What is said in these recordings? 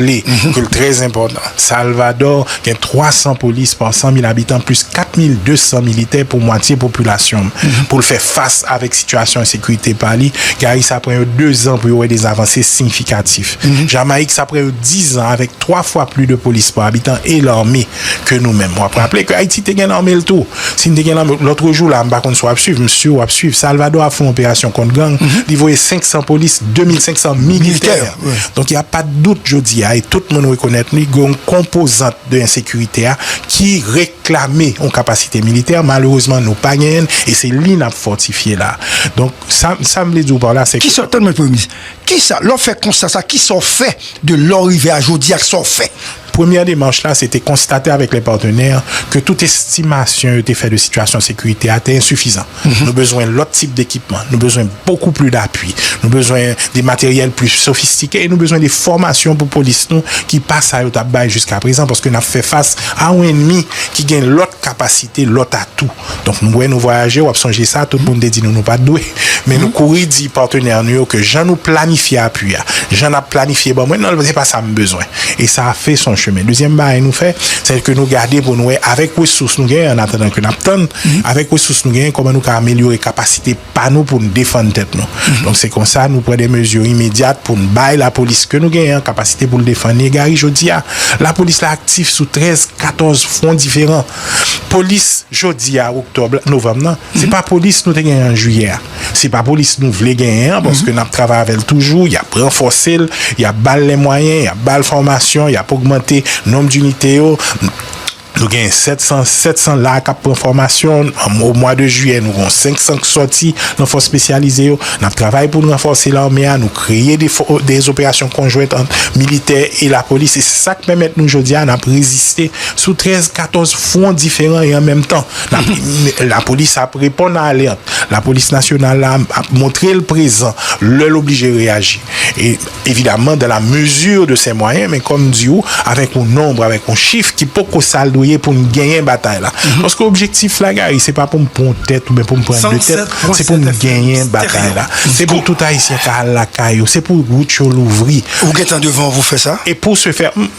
Li, ke l trè enpòtan. Salvadò gen 300 polis pa 100 mil abitan plis 4 mil 200 militè pou mwatye popilasyon l. Pou l fè fas avèk sitiyasyon ensekirite pa li, Gary sa pran yo 2 zan pou yo wè de avanse siyifikatif. Jamayik sa pran yo 10 zan avèk 3 fwa pli de polis pa abitan e lame. ke nou menm. Wap raple ke Ayiti te gen lame l tou. Si n te gen lame, lotrejou la, m pa konn si w ap swiv, m si w ap swiv, Salvadò ap fè yon operasyon kont gang, li voye 500 polis, 2500 militè. Donk y a pa de dout jodi a, e tout moun rekonèt li, gen yon konpozant de ensekirite a ki reklame yon kapasite militè. Malerezman nou pa genyen l, e se li n ap fòtifye la a. Donk sa, sa m vle di w pa la se ke. Kisa, tann mwen Premye Minis, kisa, lè w fè konsta sa, kisa w fè de lè w rive a jodi a ak sa w fè? Premyè demach la se te konstate avèk lè patenè ke tout estimasyon yo te fè de sitiyasyon sekirite a te ensifizan. Nou bezwen lòt tip dekipman, nou bezwen bokou pli dapui, nou bezwen de materyèl pli sofistike e nou bezwen de fòmasyon pou polis nou ki pa sa yo t ap bay jiskaprezan paske n ap fè fas a yon enmi ki gen lòt kapasite, lòt atou. Donk nou wè nou vwayaje, w ap sonje sa, tout moun te di nou nou pa t dwe. Men nou kouri di patenè nou yo ke jan nou planifye apui a, jan n ap planifye ban mwen, nan se pa sa m bezwen. E sa a fè son chemen. Dezyèm bagay nou fè, se ke nou gade pou nou wè avèk resous nou genyen, an atandan ke n ap tann, avèk resous nou genyen kòman nou ka amelyore kapasite pa nou pou n defann tèt nou. Donk se kon sa nou pran de mezi imedyat pou n bay lapolis ke nou genyen an kapasite pou l defann li. E gari jodi a, lapolis la aktif sou 13, 14 fwon diferan. Polis jodi a oktòb la, novanm nan, se pa polis nou te genyen an jiyè a. Se pa polis nou vle genyen an paske n ap travay avè l toujou, y ap ranfòse l, y ap ba l lè mwayen, y ap ba l fòmasyon, y ap ogmante nonb dinite yo. Nou genyen 700, 700 la a k ap pran fòmasyon. O mwa de jiyè, nou gon 500 k sòti nan fòs espesyalize yo. N ap travay pou n ranfòse lame a. Nou kreye de fò, de operasyon konjwent ant militè e lapolis e se sa k pèmèt nou jodi a n ap reziste. sou 13, 14 fwon diferan e an menm tan lapolis ap reponn a alèt, lapolis nasyonal la ap montre l prezan lè l oblije reyaji e evidaman dan la mezi de sè mwayen men kòm m di ou avèk yon nonb, avèk yon chif ki poko sa l dwe ye pou n genyen batay la paske objektif la Gary se pa pou m pran yon tèt oubyen pou m pran de tèt se pou m genyen batay la se pou tout ayisyen ka al lakay yo se pou wout yo louvri Ou gentan devan w pou fè sa? E pou se fè,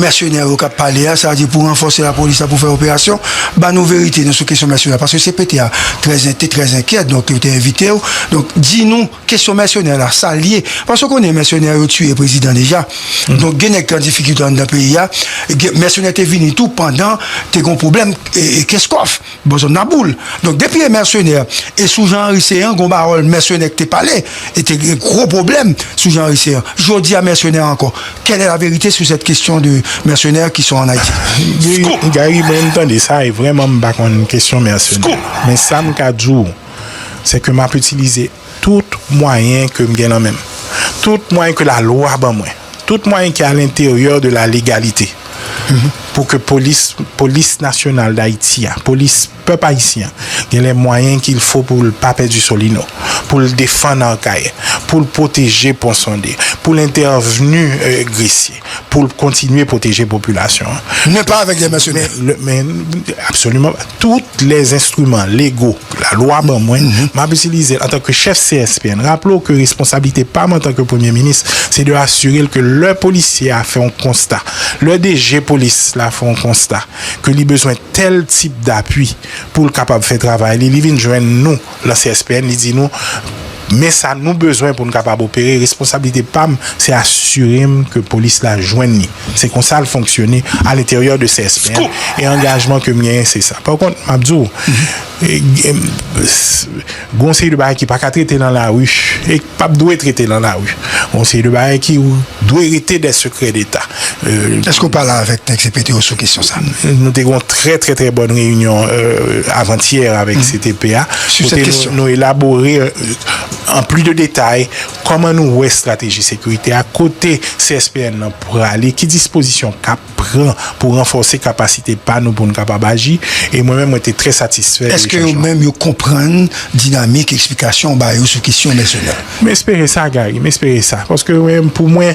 Mèsenè yo kap pale a, sa di pou ranfòse la polis la pou fè operasyon, ba nou verite nou sou kesyon mèsenè paske CPT a trè en te trè enkyè donk yo te envitew donk di nou kesyon mèsenè la sal ye paske ou konnen mèsenè yo tiye prezidan deja donk gen nèg ki an difikilte anndan peyi a gen mèsenè te vini tou pandan te gon pwoblèm Kenskòf. Bon zòn nan boule. Donk depi e mèsenè e sou Jean Henry Céant gon pawòl mèsenè ki te pale e te gen gwo pwoblèm sou Jean Henry Céant. Jodi a mèsenè ankò. Quelle est la vérité sur cette question de mercenaires qui sont en Haïti? Scoop! Gary mwen m tande sa e vrèman m pa konn kesyon mèsenè. Men sa m ka di w se ke m ap itilize tout mwayen ke m gen nan men m. Tout mwayen ke lalwa ban mwen. Tout mwayen ki alenteryè de la legalite pou ke polis, polis nasyonal dayiti a, polis pèp ayisyen an, gen lè mwayen ki l fo pou l pa pèdi Solino, pou l defann Arcahaie, pou l pwoteje Pon Sonde, pou l entèvni Gresye, pou l kontinye pwoteje popilasyon an. Men pa avèk lè mèsenè. Absoliman pa. Tout lè enstriman lego. lalwa ban mwen, m ap itilize l antanke chèf CSPN. Raple w ke responsablite pa m antanke Premye Minis, se de asire l ke lè polisye a fè yon konsta, lè DG polis la fè yon konsta ke li bezwen tèl tip dapui pou l kapab fè travay li, li vin jwenn nou lan CSPN, li di nou men sa nou bezwen pou n kapab opere. Responsablite pa m, se asire m ke polis la jwenn li. Se konsa l fonksyone a lenteryè de CSPN e angajman ke m genyen se sa. Pa kont, m ap di w, gen yon seri de bagay ki pa ka trete nan lari e ki pa p dwe trete nan lari. Gen yon seri de bagay ki dwe rete dè sekrè deta. Èske ou pale avèk nèg CPT yo sou kesyon sa? Nou te gen yon trè trè trè bòn reyinyon avantyè avèk CTP a kote nou elabore an plis de detay Kòman nou wè estrateji sekirite a, kote CSPN lan prale, ki dispozisyon k ap pran pou ranfòse kapasite pa nou pou n kapab aji? E mwen menm mwen te trè satisfè de echanj lan. Èske yo menm yo konprann dinamik eksplikasyon w ba yo sou kesyon mèsenè? M espere sa Gary, m espere sa. Paske mwen menm pou mwen.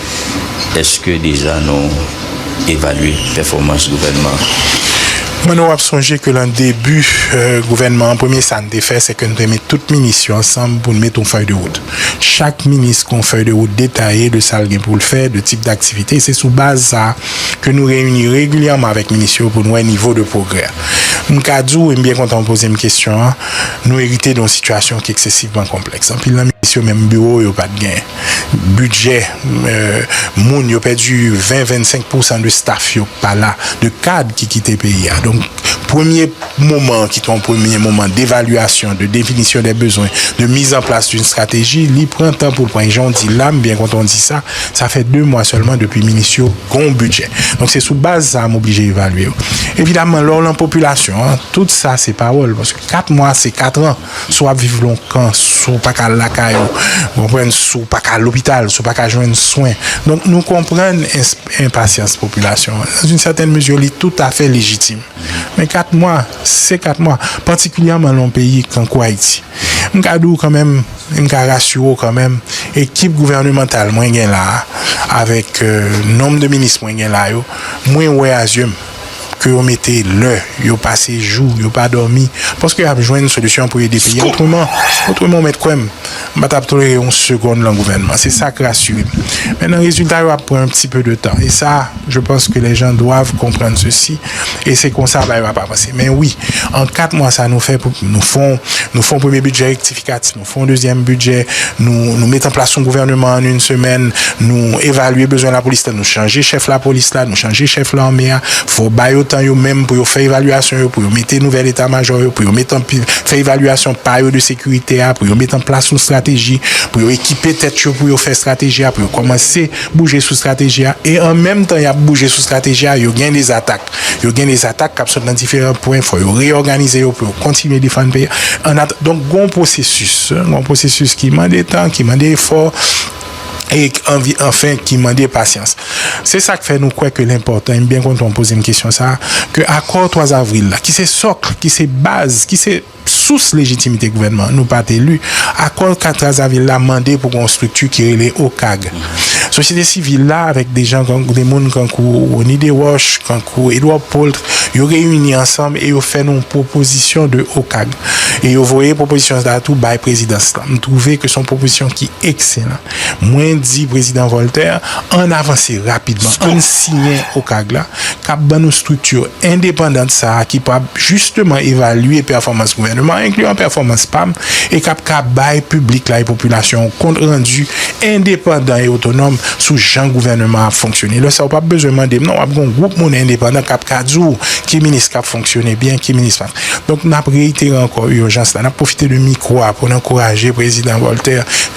Eske deja nou evalye pèfòmans gouvènman an? Mwen nou ap sonje ke lan debu gouvènman an premye sa n te fè se ke n te met tout minis yo ansanm pou n met yon fèy de wout. Chak minis gen yon fèy de wout detaye de sa l gen pou l fè, de tip daktivite. Se sou baz sa a ke nou reyini regilyèman avèk minis yo pou n wè nivo de pwogrè. M ka di w, e m byen kontan ou poze m kesyon an, nou erite de yon sitiyasyon ki eksesivman konplèks. Anpil nan minis yo menm biwo yo pa t gen. Budget moun yo pèdi 20 25 pou san de staff yo pa la de kad ki kite peyi a donk premye moman ki te yon premye moman devaluation de definition des besoins de mise en place d'une stratégie li pran tan poul pran e jan w di la m byen kontan w di sa sa fè 2 mwa sèlman depi minis yo gen yon budget donk se sou baz sa m oblije evalye w evidamment lè w lan popilasyon an tout sa se pawòl paske 4 mwa se 4 ans. Si w ap viv lontan, si w pa ka al lakay ou, ou konprann, si w pa ka al lopital, si w pa ka jwenn swen. Donk nou konprann enpasyans popilasyon an. Nan yn sètèn mezi li toutafè lejitim. Men 4 mwa, se 4 mwa. Patikilyèman nan yon peyi tankou Ayiti. M ka di w kanmenm, e m ka rasire w kanmenm, ekip gouvènemantal mwen gen la a, avèk nonm de minis mwen gen la yo, mwen wè a zye m. ke yo mete lè, yo pase jou, yo pa dòmi, paske y ap jwenn solisyon pou ede peyi a otreman. Otreman ou mèt kwè m, m pa t ap tolere yon segonn lan gouvènman. Se sa k rasire m. Mennan rezilta yo ap pran yon ti peu de tan. E sa, je panse ke les gens doivent comprendre ceci e se konsa bagay yo ap avanse. Men wi, an 4 mwa sa nou fè, nou fon, nou fon premye bidjè rektifikatif. Fè yon dezyèm bidjè, nou met anplas yon gouvèneman ann yn semèn, nou evalye bezwen lapolis la, nou chanje chèf lapolis la, nou chanje chèf lame a, fò ba yo tan yo menm pou yo fè evalyasyon yo, pou yo mete nouvèl eta majò yo, pou yo met anpil, fè evalyasyon pa yo de sekirite a, pou yo met anplas yon estrateji, pou yo ekipe tèt yo pou yo fè estrateji a, pou yo kòmanse bouje sou estrateji a, e an menm tan y ap bouje sou estrateji a, yo gen de zatak. Yo gen de atak k ap sot nan diferan pwen, fò yo reyòganize yo pou yo kontinye defann peyi a. Donk gen yon pwosesis, gen yon pwosesis ki mande tan, ki mande efò e anvi anfen ki mande pasyans. Se sa k fè nou kwè ke l enpòtan, e m byen kontan w poze m kesyon sa a, ke akò 3 avril la ki se sòkl, ki se baz, ki se. Sous lejitimite gouvènman an, nou pa t eli. Akò lka Trazavil la mande pou gen yon estrikti ki rele OCAG. Sosyete sivil la avèk de jan kan, de moun kankou Rony Desroches, kankou Edouard Paultre, yo reyini ansanm e yo fè nou yon pwopozisyon de OCAG. E yo voye pwopozisyon sa a tou bay prezidans lan. M twouve ke s on pwopozisyon ki ekselan. Mwen di Prezidan Voltaire, ann avanse rapidman, ann siyen OCAG la, k ap ban nou estrikti endepandant sa a ki pwab jisteman evalye pèfòmans gouvèneman an, enkliyan pèfòmans pa m, e k ap ka bay piblik la e popilasyon an kont randi endepandan e otonòm sou jan gouvèneman an ap fonksyone. Lè sa a ou p ap bezwen mande m non, w ap gen yon gwoup moun endepandan k ap ka di w ki minis k ap fonksyone byen, ki minis pa. Donk, n ap reyitere ankò ijans la, n ap pwofite de mikwo a pou n ankouraje Prezidan Voltaire,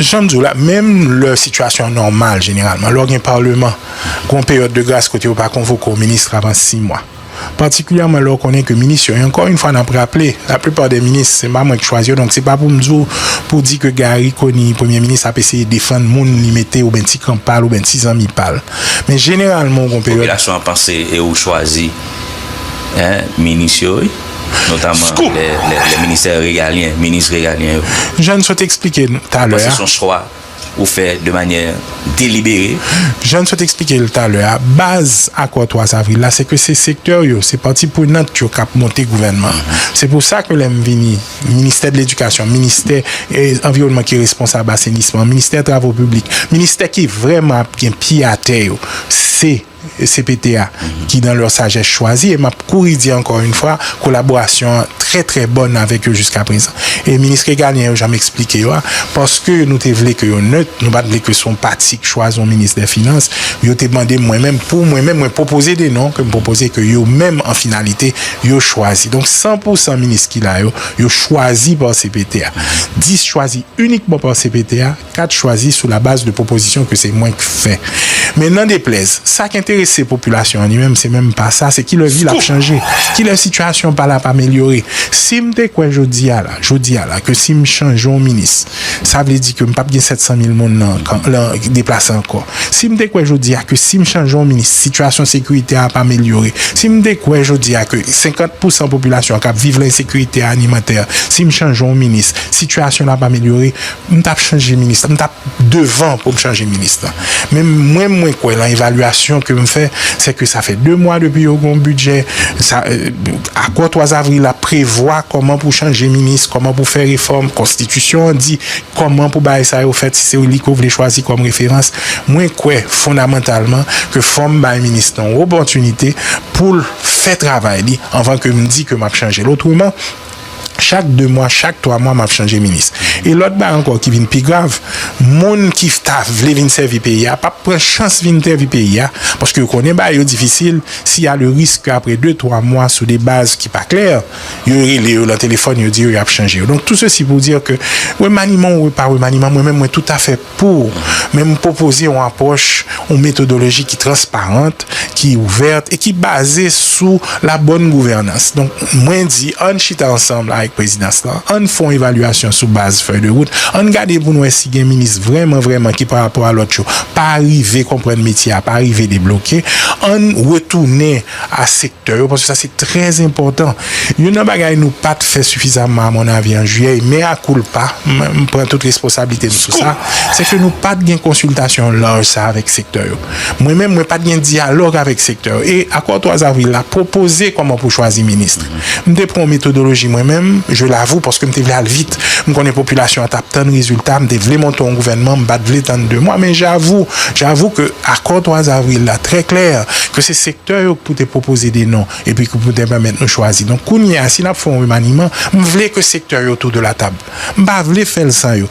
Jan m di w la, menm lè sitiyasyon an nòmal, jeneralman, lè w gen Paleman, gen yon peryòd de gras kote yo pa konvoke w minis avan si mwa. Patikilyèman lè w konnen ke minis yo, e ankò yon fwa n ap raple, laplipa dè minis, se pa mwen ki chwazi yo, donk se pa pou m di w, pou w di ke Gari Koni, Premye Minis, ap eseye defann moun li mete oubyen ti kan pa l oubyen ti zanmi pa l. Men jeneralman ou gen yon peryòd. Popilasyon an panse e ou chwazi, hein, minis yo wi. Scoop! Jan n sot eksplike l talè a, jan n sot eksplike l talè a, baz akò 3 avril la se ke se sektè yo, se pati prenant yo k ap monte gouvènman an. Se pou sa ke lè m vini, Ministè de Ledikasyon, Ministè Anviwònman ki responsab asenisman, Ministè Travo Piblik, Ministè ki vrèman ap gen pye atè yo, se. cpt a ki dans leur sagesse chwazi e map kouri di ankò yn fwa kolaborasyon an trè trè bòn avèk yo jiskaprezan e minis regalyen yo janm esplike yo a paske nou te vle ke yo nèt nou pat vle ke son pati k chwazi yon minis dè finans yo te mande mwen menm pou mwen menm mwen pwopoze de non kem pwopoze ke yo menm an finalite yo chwazi donk san pou san minis ki la yo yo chwazi par cpt a 10 chwazi inikman par cpt a. ka t chwazi sou labaz de pwopozisyon ke se mwen k fè. Men nan deplèz, sa k enterese popilasyon an li menm, se menm pa sa, se kilè vil ap chanje, kilè sitiyasyon pa l ap amelyore. Si m te kwè jodi a la, jodi a la, ke si m chanje yon minis, sa vle di ke m p ap gen 700 mil moun nan nan deplase ankò. Si m te kwè jodi a ke si m chanje yon minis, sitiyasyon sekirite a ap amelyore. Si m te kwè jodi a ke 50 pou san popilasyon an k ap viv lan ensekirite alimantè, si m chanje yon minis, sitiyasyon l ap amelyore. M tap chanje minis lan, m tap devan pou m chanje minis lan. Men mwen mwen kwè lan evalyasyon ke m fè, se ke sa fè 2 mwa depi yo gen yon bidjè, sa akò 3 avril la prevwa kòman pou chanje minis, kòman pou fè refòm, konstitisyon an di kòman pou bagay sa yo fèt si se li ke w vle chwazi kòm referans. Mwen kwè fondamantalman ke fò m bay minis lan yon opòtinite pou l fè travay li anvan ke m di ke m ap chanje l. Otreman. Chak 2 mwa, chak 3 mwa map chanje minis. E lòt bagay ankò ki vin pi grav, moun ki ta vle vin sèvi peyi a pap pran chans vin sèvi peyi a paske yo konnen bagay yo difisil, si y a le risk ke apre 2, 3 mwa sou de baz ki pa klè, yo rele yo lan telefòn yo di yo yap chanje yo. Donk tou sesi pou dir ke remaniman ou pa remaniman mwen menm mwen toutafè. Pou ou, men m pwopoze yon apwòch, yon metodoloji ki transparant, ki ouvèt e ki baze sou la bòn gouvènans. Donk, mwen di, ann chita ansanm avèk prezidans lan, ann fè yon evalyasyon sou baz fèy de wout, ann gade pou n wè si gen minis vrèman vrèman ki pa rapò a lòt yo pa rive konprann metye a, pa rive debloke, ann retounen. a sektè yo paske sa se trè enpòtan. Youn nan bagay nou pa t fè sifizamman a mon avi an jiyè e mea culpa, m pran tout responsablite m sou sa, se ke nou pa t gen konsiltasyon laj sa avèk sektè yo. Mwen menm mwen pa t gen dyalòg avèk sektè yo e akò 3 avril la pwopoze kòman pou chwazi minis. M te pran metodoloji mwen menm, je l'avoue, paske m te vle al vit. M konnen popilasyon an t ap tann rezilta, m te vle monte yon gouvènman, m pa t vle tann 2 mwa. Men j'avoue, j'avoue ke akò 3 avril la trè klè ke se sektè yo k pou te pwopoze de non epi ki pou te pèmèt nou chwazi. Donk kounye a si n ap fè yon remaniman, m vle ke sektè yo tou de la table. M pa vle fè l san yo.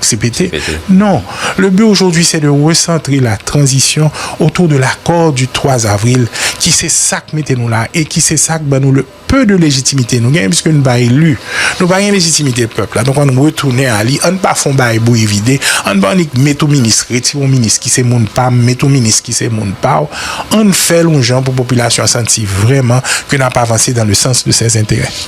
CPT, Non, le but aujourd'hui c'est de recentrer la transition autour de l'accord du 3 avril ki se sa k mete nou la e ki se sa k ban nou le peu de légitimité nou genyen puisque nou pa élu, nou pa gen légitimité pèp la, donk ann retounen a li, ann pa fè yon bagay bouyi vide, ann pa annik met yon minis, retire yon minis ki se moun pa m, met yon minis ki se moun pa w, ann fè l yon jan pou popilasyon an santi vrèman ke n ap avanse dans le sens de ses intérêts.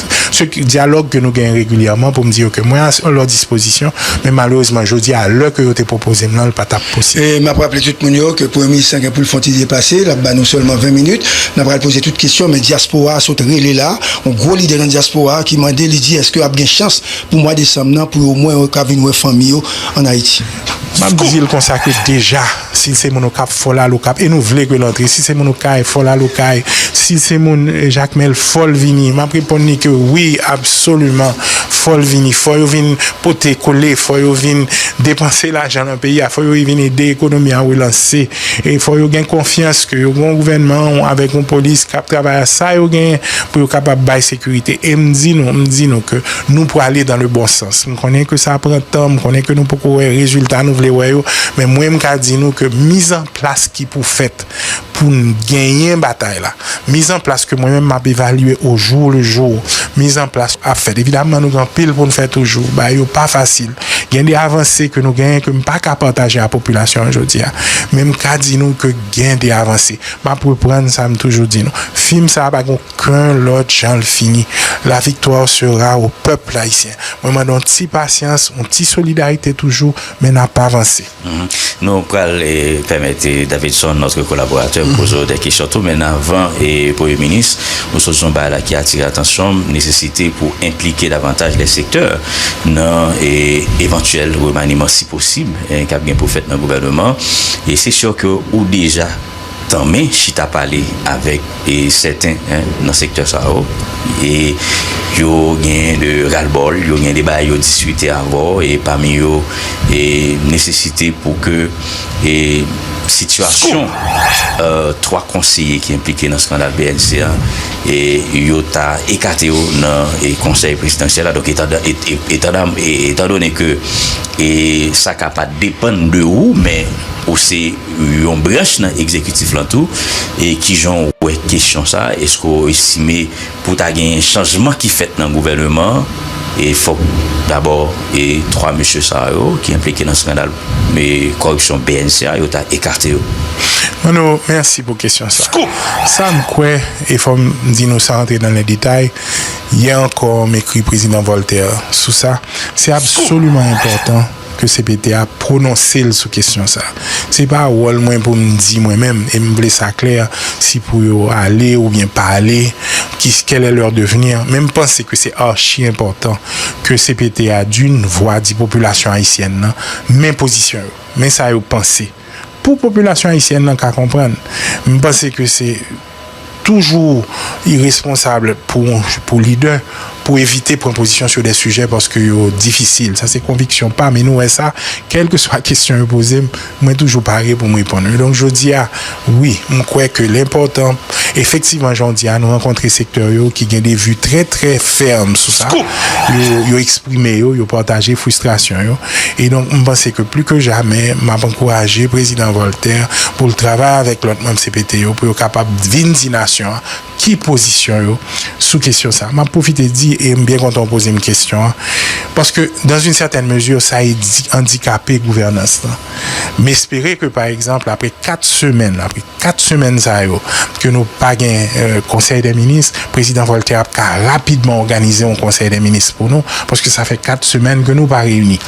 Se dyalòg ke nou genyen regilyèman pou m di yo ke mwen a lòt dispozisyon, men malerezman jodi a lè ke yo te pwopoze m lan l pa t ap posib. E m ap raple tout moun yo ke premye minis lan gen pou l fè yon ti depase, l ap ba nou sèlman 20 minit, n ap pral poze tout kesyon, men dyaspora a sot rele la, yon gwo lidè nan dyaspora a ki mande li di èske ap gen chans pou mwa desanm nan pou yo omwen yo ka vin wè fanmi yo an Ayiti. Map dil konsa ke deja sil se moun okap fòl al okap e nou vle kel antre si se moun okay fòl al okay sil se moun jakmel fòl vini map reponn li ke wi absoliman fòl vini fò yo vin pote kole fò yo vin depanse lajan nan peyi a fò yo vin ede ekonomi a relanse e fò yo gen konfyans ke yo gon gouvènman avèk yon polis kap travay a sa yo genyen pou yo kapab bay sekirite em di nou m di nou ke nou prale dan le bon sans. Konnen ke sa pran tan, m konnen ke nou poko wè rezilta nou vle wè yo, men mwen m ka di nou ke mizanplas ki pou fèt pou n genyen batay la, mizanplas ke mwen menm m ap evalye o jou le jou, mizanplas ap fèt. Evidamman nou gen anpil pou n fè toujou, bagay yo pa fasil, gen de avanse ke nou genyen ke m pa ka pataje a popilasyon an jodi a, men m ka di nou ke gen de avanse. M ap reprann sa m toujou di nou, fim sa pa gen yon. Ken lòt janl fini. La victoire sera au peuple haïtien mwen mande yon ti pasyans yon ti solidarité toujou men nap avanse. Nou pral pèmèt Davidson notre collaborateur poze w de kesyon tou men avan premye minis ou sot di yon bagay la ki atire atansyon m nesesite pou enplike davantaj lè sektè nan evantyèl remaniman si posib kap gen pou fèt nan gouvèneman e se sure ke ou deja tanmen chita pale avèk sèten nan sektè sa yo e yo genyen de ralbòl, yo genyen de bagay yo diskite avè w e pami yo nesesite pou ke sitiyasyon 3 konseye ki enplike nan skandal bnc a yo ta ekate yo nan konsèy prezidansyèl la donk etandone ke sa ka pa depann de ou men ou se yon branch nan egzekitif lan tou, e kijan w wè kesyon sa, eske w estime pou ta genyen chanjman ki fèt nan gouvèneman an, e fòk dabò e 3 mesye sa yo ki enplike nan skandal kòripsyon bnc a, yo ta ekate yo? Manno, mèsi pou kesyon sa. Sa m kwè, e fò m di nou san antre nan lè detay, yè ankò m ekri Prezidan Voltaire sou sa, se absoliman enpòtan, ke cpt a pwononse l sou kesyon sa. Se pa wòl mwen pou m di mwen menm, e m vle sa klè, si pou yo ale oubyen pa ale, ki quel est leur devenir, men m panse ke se archi enpòtan ke cpt a d'une vwa di popilasyon ayisyèn nan men pozisyon yo, men sa yo panse, pou popilasyon ayisyèn nan ka konprann. M panse ke se. toujou iresponsab pou lidè pou evite pran pozisyon sou de sijè paske yo difisil. Sa se konviksyon pa m e nou wè sa kèlkeswa kesyon yo poze m, mwen toujou pare pou m reponn yo. Donk jodi a, wi, m kwè ke l enpòtan efektivman jan w di a nou rankontre sektè yo ki gen de vi trè trè fèm sou sa, yo eksprime yo, yo pataje fristrasyon yo. E donk m panse ke pli ke jamè m ap ankouraje Prezidan Voltaire pou l travay avèk lòt manm cpt yo pou yo kapab vin di nasyon an ki pozisyon yo sou kesyon sa a. M ap pwofite di, e m byen kontan ou poze m kesyon an, paske dans une certaine mesure sa andikape gouvènans lan. M espere ke pa egzanp apre 4 semèn, apre. 4 semèn sa yo ke nou pa gen konsèy dè minis, prezidan Voltè ap ka rapidman òganize yon konsèy dè minis pou nou, paske sa fè 4 semèn ke nou pa reyini.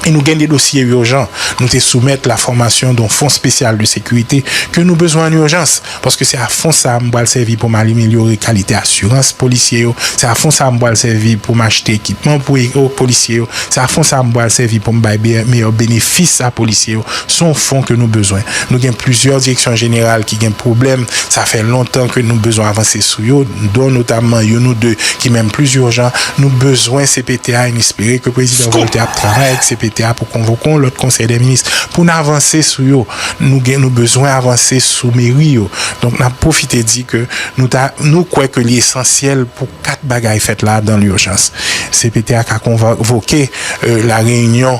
E nou gen de dosye urjan. Nou te soumèt la fòmasyon don fon spesyal de sekirite ke nou bezwen an urjans, paske se a fon sa a m pral sèvi pou m alimelyore kalite asirans polisye yo, se a fon sa a m pral sèvi pou m achte ekipman pou polisye yo, se a fon sa a m pral sèvi pou m bay meyè benefis a polisye yo. Se yon fon ke nou bezwen. Nou gen plizyè direksyon jeneral ki gen pwoblèm, sa fè lontan ke nou bezwen avanse sou yo, don notamman youn ou de ki menm plis urjan. Nou bezwen cpt a e n espere ke Prezidan Voltè ap travay ak cpt a pou konvoke yon lòt Konsèy dè Minis pou n avanse sou yo. Nou gen, nou bezwen avanse sou meri yo. Donk n ap pwofite di ke nou ta, nou kwè ke li esansyèl pou 4 bagay fèt la dan lurjans. Cpt a ka konvoke lareyinyon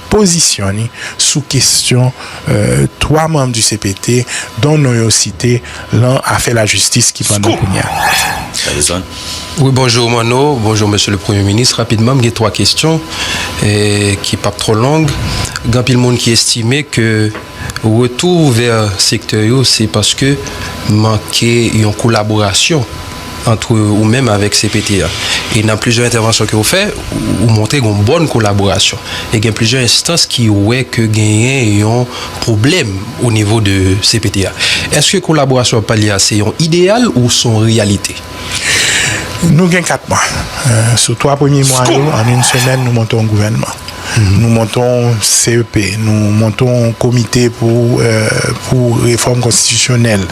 pozisyon ni sou kestyon 3 manm du cpt don non yo site lan afè la jistis ki pandan kounya. Wi bonjou Manno, bonjou mesye le premye minis, rapidman m gen 3 kestyon ki pap trò long, gen anpil moun ki estime ke. Retou vè sektè yo se paske manke yon kolaborasyon antre ou menm avèk cpt a. E nan plizyè entèvansyon ke ou fè, ou montre gen yon bòn kolaborasyon. E gen plizyè enstans ki wè ke genyen yon pwoblèm o nivo de cpt a. Eske kolaborasyon wap pale a se yon ideyal ou son reyalite? Nou gen 4 mwa. Sou 3 premye mwa yo, an yon semèn nou monte yon gouvènman. Nou monte yon CEP, nou monte yon komite pou refòm konstitisyonèl.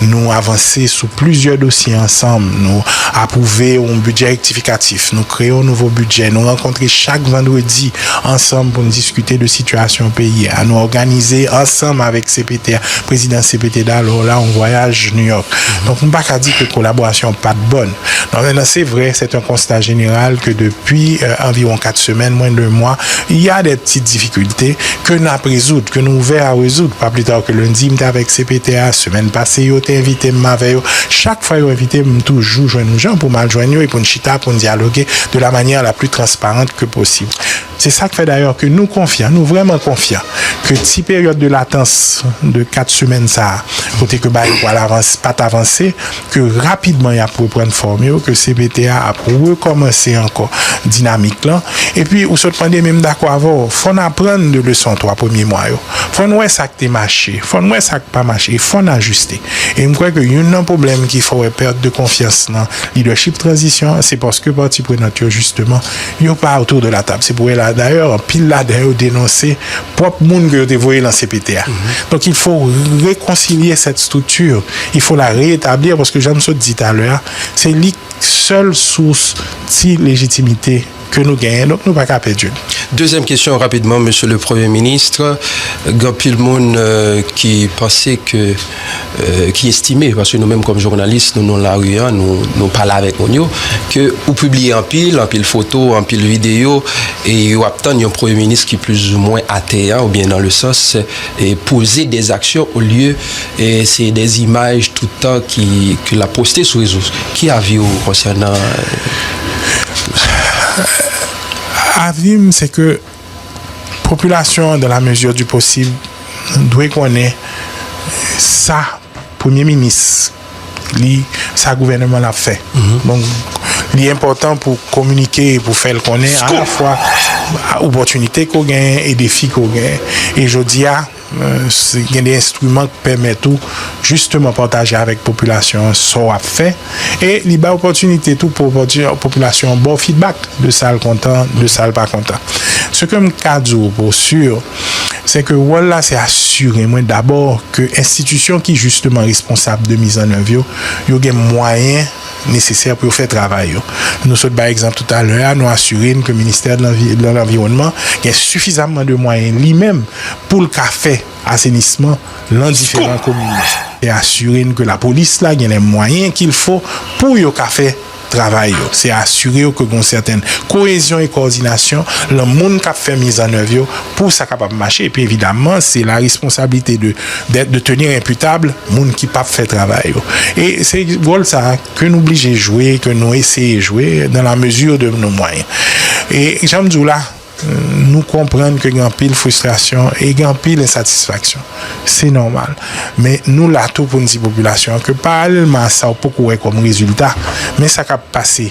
Nou avanse sou plizyè dosye ansanm. Nou apwouve yon bidjè rektifikatif. Nou kreye yon nouvo bidjè. Nou rankontre chak vandredi ansanm pou nou diskite de sitiyasyon peyi a. Nou òganize ansanm avèk CPT a. Prezidan CPT Daló la an vwayaj New York. Donk nou pa ka di ke kolaborasyon an pa t bòn. Nan anven nan se vre, sèt an konsta jeneral ke depi anviwon kat semèn, mwen de mwa, y a dè ptit difikilte ke n ap rezoud, ke nou ouvè a rezoud. Pa pli ta ke lendi m te avèk CPT a, semèn pase yo te envite m, m avè yo. Chak fwa yo envite m, m toujou jwenn yon jan pou m al jwenn yo e pou n chita, pou n dyaloge de la manyè la pli transparant ke posib. Se sa k fè dayè ke nou konfyan, nou vrèman konfyan ke ti peryòd de latans de 4 semèn sa a kote ke bagay pwal avanse, pat avanse, ke rapidman y ap reprann fòm yo, ke cpt a ap rekòmanse ankò dinamik lan. Epi ou sot mande, men m dakò avè w, fò n aprann de leson 3 premye mwa yo. Fò n wè sa k te mache, fò n wè sa k pa mache e fò n ajiste. E m kwè ke youn nan pwoblèm ki fè w wè pèt de konfyans nan lidèchip tranzisyon an, se paske pati prenant yo jisteman Yo pa autour de la table. Se pou wè la. Dayè, anpil ladan yo denonse pwòp moun ke yo te voye lan cpt a. Donk il fo rekonsilye sèt strikti. Il fo la reetablir paske jan m sot di talè a, se li sèl sous ti lejitimite ke nou genyen. Donk nou pa ka pèdi l. Dezyèm kesyon rapidman, Mesye le Premye Ministre. Gen anpil moun ki panse ke. ki estime, paske nou menm kòm jounalis nou nan lari an, nou pale avèk moun yo, ke ou pibliye anpil, anpil foto, anpil videyo, e yo ap tann yon premye minis ki plizoumwen ateyan, oubyen nan le sans poze dè aksyon olye se dè imaj tout tan ke l ap poste sou rezo. Ki avi ou konsènan tout sa? Avi m se ke. Popilasyon an, dans la mesure du possible, dwe konnen sa Premye Minis li, sa Gouvèneman l ap fè. Donk, li enpòtan pou w kominike, pou w fè l konnen alafwa opòtinite ke w genyen e defi ke w genyen. E jodi a. Si gen de enstriman k pèmèt ou jisteman pataje avèk popilasyon an sa w ap fè e li bay opòtinite tou pou popilasyon an ba w fidbak de sa l kontan, de sa l pa kontan. Se ke m ka di w pou si, se ke wòl la se asire mwen dabò ke enstitisyon ki jisteman responsab de mizannèv yo, yo gen mwayen. nesesè pou yo fè travay yo. Nou sot bay egzanp toutalè a, nou asire n ke ministè de lanviwònman gen sifizamman de mwayen li menm pou l ka fè asenisman lan diferan komin yo. Se asire n ke lapolis la gen lè mwayen ki l fo pou yo ka fè travay yo. Se asire yo ke gon sèten koezyon e kòdinasyon lan moun k ap fè mizannèv yo pou sa kapab mache. Epi evidamman se la responsablite de. d'être, de tenir imputable moun ki pap fè travay yo. E se wòl sa a ke nou blije jwe, ke nou eseye jwe dans la mesure de nos moyens. E jan m di w la, nou konprann ke gen anpil frustration e gen anpil insatisfaction. Se nòmal. Men nou la tou pou n di popilasyon an ke paralèlman a sa w poko wè kòm rezilta, men sa k ap pase.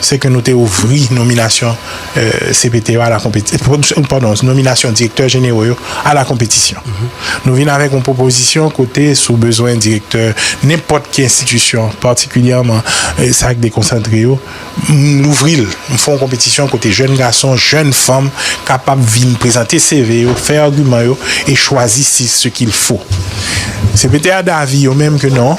se ke nou te ouvri nominasyon CPT yo a la konpetisyon, padon, nominasyon direktè jenero yo a la konpetisyon. Nou vin avèk yon pwopozisyon kote si w bezwen direktè nenpòt ki enstitisyon, patikilyèman sa k dekonsantre yo, m louvri l, m fè yon konpetisyon kote jèn gason, jèn fanm kapab vin prezante CV yo, fè agiman yo e chwazi si ce qu'il faut. CPT a davi yo menm ke non,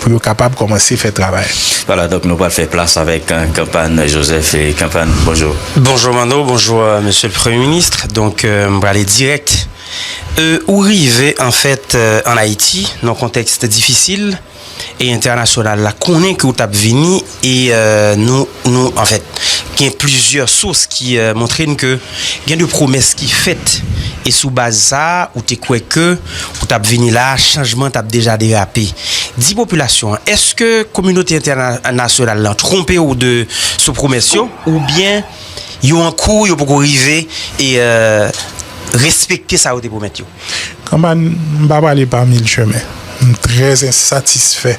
pou yo kapab kòmanse fè travay. Wala donk nou pral fè plas avèk Kanpan Joseph. Kanpan, bonjou. Bonjou Manno, bonjou Mesye le Premye Ministre. Donk m prale dirèk. Ou rive anfèt an Ayiti nan kontèks difisil e entènasyonal la konnen ke ou t ap vini. E nou, nou, anfèt, gen plizyè sous ki montre n ke gen de pwomès ki fèt, e sou baz sa a, ou te kwè ke ou t ap vini la a, chanjman t ap deja derape. Di popilasyon an, èske kominote entènasyonal lan twonpe ou de sou pwomès yo, oubyen yo an kou, yo poko rive respekte sa yo te pwomèt yo? Kanpay, m pa prale pa mil chemen. M trè ensatisfè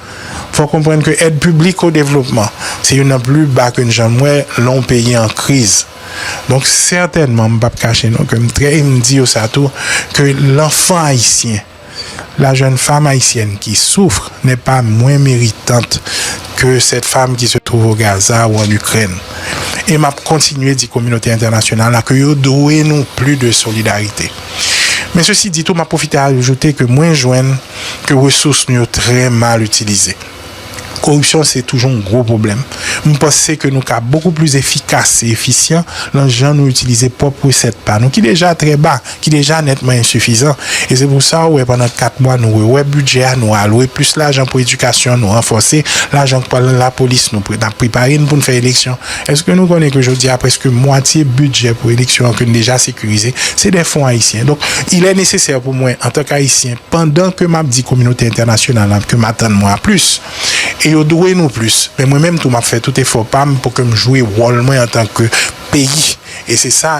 Fò konprann ke èd piblik o devlopman se youn nan pli ba ke n janm wè lè yon peyi an kriz. Donk sètènman, m p ap kache non ke m trè e m di yo sa tou, ke lanfan ayisyen, la jèn fam ayisyèn ki soufre nè pa mwen meritant ke sèt fam ki se twouve o Gaza ou an Ikrèn. E m ap kontinye di kominote entènasyonal la ke yo dwe nou pli de solidarite. Men sesi di tou, m ap pwofite ajoute ke mwen jwenn. ke resous nou yo trè mal itilize. Koripsyon se toujou yon gwo pwoblèm. M panse ke nou ka bokou plis efikas e efisyan lan jan nou itilize pwòp resèt pa nou ki deja trè ba, ki deja nètman ensifizan. E se pou sa ou wè pandan 4 mwa nou rewè bidjè a, nou alwe plis lajan pou edikasyon, nou ranfòse lajan k pral lan lapolis, nou nap prepare n pou n fè eleksyon. Eske nou konnen ke jodi a preske mwatye bidjè pou eleksyon an ke n deja sekirize, se dè fon ayisyen. Donk, ilè nesesè pou mwen, antan k ayisyen, pandan ke m ap di kominote entènasyonal la ke m atann mwen a plis, e yo dwe nou plis, men mwen menm tou m ap fè tout efò pa m pou ke m jwe wòl mwen antan ke peyi, e se sa.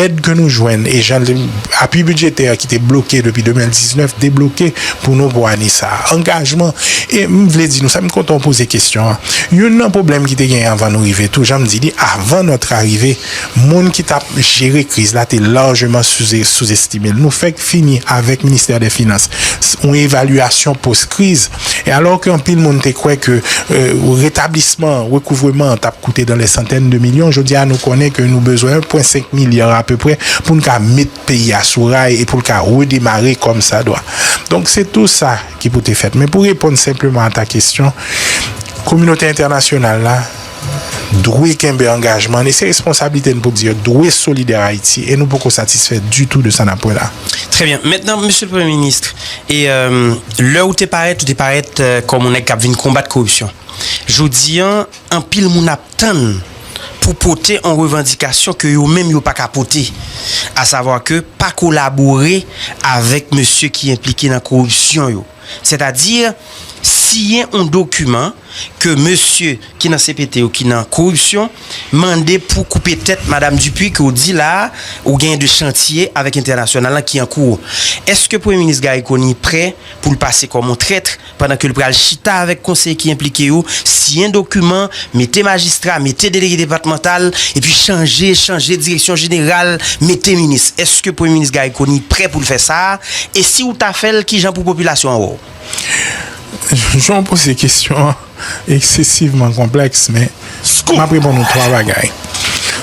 Èd ke nou jwenn e jan apui bidjetè ki te bloke depi 2019 debloke pou nou pou ane sa. Angajman e m vle di nou sa, m kontan ou poze kesyon an. Youn nan pwoblèm ki te genyen avan nou rive tou, jan m di li, avan nòt arive, moun ki t ap jere kriz la te lajman souzestime l. Nou fèk fini avèk Ministè dè Finans, yon evalyasyon pos kriz, E alò ke anpil moun te kwè ke retablisman rekouvreman an tap koute dan lè santèn de milyon, jodi a nou konnen ke nou bezwen 1 pwen 5 milya apeprè poun ka met peyi a sou ray e poul ka redemare kòm sa dwa. Donk se tou sa ki pou te fèt. Men pou reponn senpleman a ta kesyon, kominote entènasyonal la, dwe kenbe angajman n e se responsablite n pou di yo dwe solidè a Ayiti e nou poko satisfè ditou de sa n ap wè la. Trè byen. Mentnan, Mesye Premye Minis, e lè ou te parèt, ou te parèt kòm yon nèg k ap vin konbat koripsyon. Jodi an, anpil moun ap tann pou pote yon revandikasyon ke yo menm yo pa ka pote, asavwa ke pa kolabore avèk mesye ki enplike nan koripsyon yo. Sètadi, siyen yon dokiman ke mesye ki nan CPT yo ki nan koripsyon mande pou koupe tèt Madam Dupuy ke w di la a ou genyen 2 chantye avèk entènasyonal lan ki an kou w. Eske Premye Minis Garry Conille prè pou l pase kòm yon trètr pandan ke l pral chita avèk konseye ki enplike yo, siyen dokiman, mete majistra, mete delege depatmantal, epi chanje, chanje direksyon jeneral, mete minis? Eske Premye Minis Garry Conille prè pou l fè sa a? E si ou ta fèl kijan pou popilasyon an wè-w? Jan w poze kesyon an eksesivman konplèks men m ap reponn ou 3 bagay.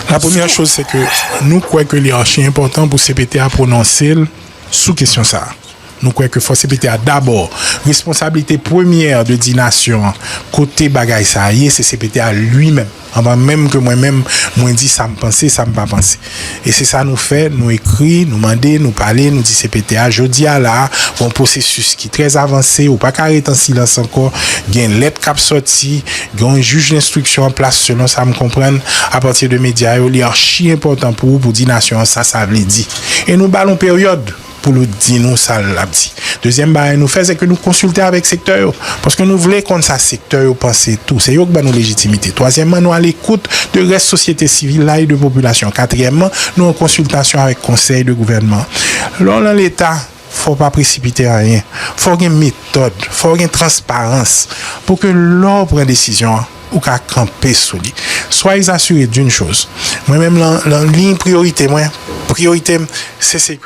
La premyè choz se ke nou kwè ke li achi enpòtan pou cpt a pwononse l sou kesyon sa a. Nou kwè ke fò cpt a dabò responsablite premyè de di nasyon an kote bagay sa a ye se cpt a li menm. Anvan menm ke mwen menm mwen di sa m panse, sa m pa panse. E se sa nou fè, nou ekri, nou mande, nou pale, nou di cpt a, jodi a la a, gon pwosesis ki trè avanse, ou pa ka ret an silans ankò, gen lèt k ap sòti, gon jij denstriksyon an plas selon sa m konprann, apati de medya yo, li archi enpòtan pou ou pou di nasyon an sa sa vle di. E nou ba l on peryòd! pou l di nou sa l ap di. Dezyèm bagay nou fè, se ke nou konsilte avèk sektè yo. Paske nou vle konn sa sektè yo panse tou. Se yo k ban nou lejitimite. Twazyèmman, nou alekout de rès sosyete sivil la e de popilasyon an. Katriyèmman, nou an konsiltasyon avèk konsèy de gouvènman an. Lè w lan Leta, fò w pa presipite anyen. Fò w gen metòd. Fò w gen transparans. Pou ke lè w pran desizyon an, ou ka kanpe sou li. Soyez assurés d'une chose, mwen menm lan liy priyorite mwen, priyorite m se sekurite.